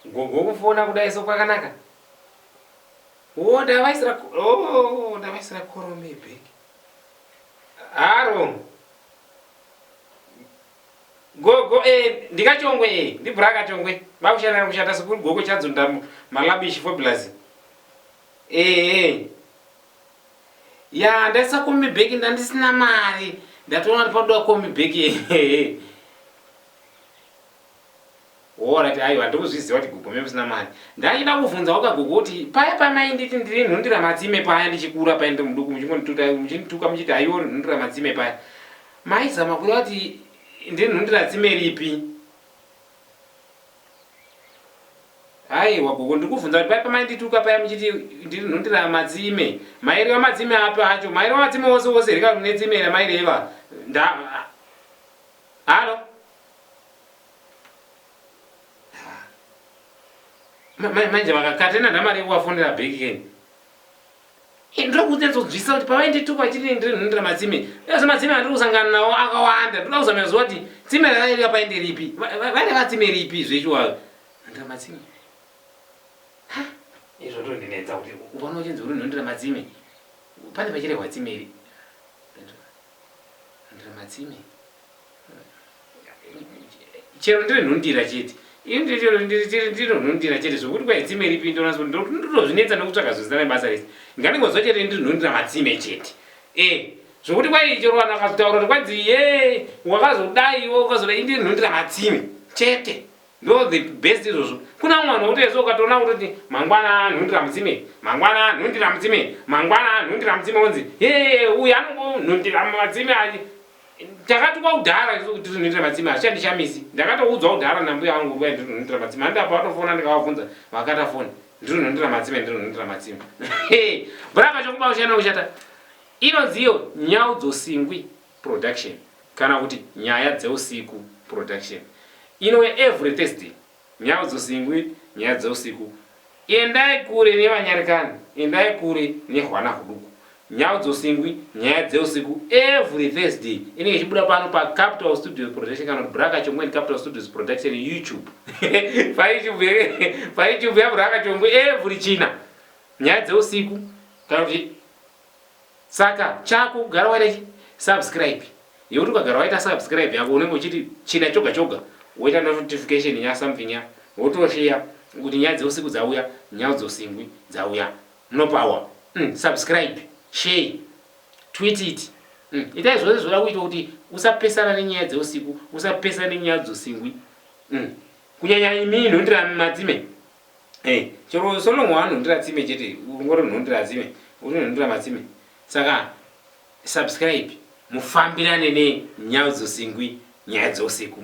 Gogo kufona kudai so kwakanaka. Oh, ndavaisira oh, ndavaisira korome bag. Haro. Gogo eh ndikachongwe eh ndibura kachongwe. Bakushana kushata sekuru gogo chadzunda malabishi fobulazi. Eh eh. Ya ndaisa komi bag ndandisina mari. Ndatoona ndipodoa komi bag. Eh eh. Woona kuti aiwa ndokuzviziva kuti gogo mave kusina mari. Ndaichida kuvhunza waka gogo kuti paya pamainditi ndiri nhundira matsime paya ndichikura paya ndiri muduku muchingondituta muchindituka muchiti haiwa uri nhundira matsime paya maizama kuda kuti ndiri nhundira tsime ripi. Aiwa gogo ndiri kuvhunza kuti paya pamaindituka paya muchiti ndiri nhundira matsime maireva matsime api acho maireva matsime ose ose here kana kune tsime ramaireva nda Halo. Manje vakakatena namari yekuvafonera bheki keni. Eh, ndiri kunyatsodzvisa kuti pavainditukwa chiri ndiri nhundira matsime ndazve matsime andiri kusangana nawo akawanda ndoda kuzamira zuva kuti tsime ravairira painde ripi vaine vatsime ripi zvechiwavo nhundira matsime izvo ndondinetsa kuti ukaona uchinzi uri nhundira matsime pane pachirehwa tsime iri Andira matsime. Chero ndiri nhundira chete. Ini ndiri chero ndiri chero ndiri nhundira chete zvokuti kwa itsime ripi ndona so ndoti ndotozvinetsa nokutsvaga zvezita rebasa rese. Nganingozwa chete ndiri nhundira matsime chete. Eh zvokuti kwai chero vanhu vakazotaura kuti kwanzi ye wakazodai iwe ukazodai ini ndiri nhundira matsime chete. Ndo the best izvozvo. Kuna umwe vanhu votoyesa ukatoona kutoti mangwana nhundi ramudzime, mangwana nhundi ramudzime, mangwana nhundi ramudzime wonzi hee uyu anongo nhundi ramatsime ayi. Takatukwa kudhara isu kuti nhundi ramatsime hazvichandi chamisi. Ndakatoudzwa kudhara nambuya vangu kuti ndiri nhundi ramatsime. Handi apa vatofona ndikavabvunza vakata foni. Ndiri nhundi ramatsime ndiri nhundi ramatsime. Brava chokuba ushana ushata. Inonzi iyo nyau dzosingwi. Production kana kuti Nyaya Dzeusiku Production inouya every Thursday Nhau Dzosingwi Nyaya Dzeusiku Endai kure nevanyarikani Endai kure nehwana huduku Nhau Dzosingwi Nyaya Dzeusiku every Thursday inenge ichibuda pano pa Capital Studios Production kana kuti Braka Chongwe and Capital Studios Production YouTube pa YouTube here pa YouTube ya Braka Chongwe every China Nyaya Dzeusiku kana kuti Saka chako kugara waita chi subscribe yekuti ukagara waita subscribe yako unenge uchiti china choga choga woita notification ya something ya wotosheya kuti nyaya dzeusiku dzauya nyau dzosingwi dzauya munopawa mm, subscribe share tweet it mm, itai zvose zvoda kuita kuti usapesana nenyaya dzeusiku usapesana nenyaya dzosingwi mm. kunyanya imi nhundira madzime hey, chero solongo anondira tsime chete ungori unondira tsime unondira matsime saka subscribe mufambirane nenyau dzosingwi nyaya dzousiku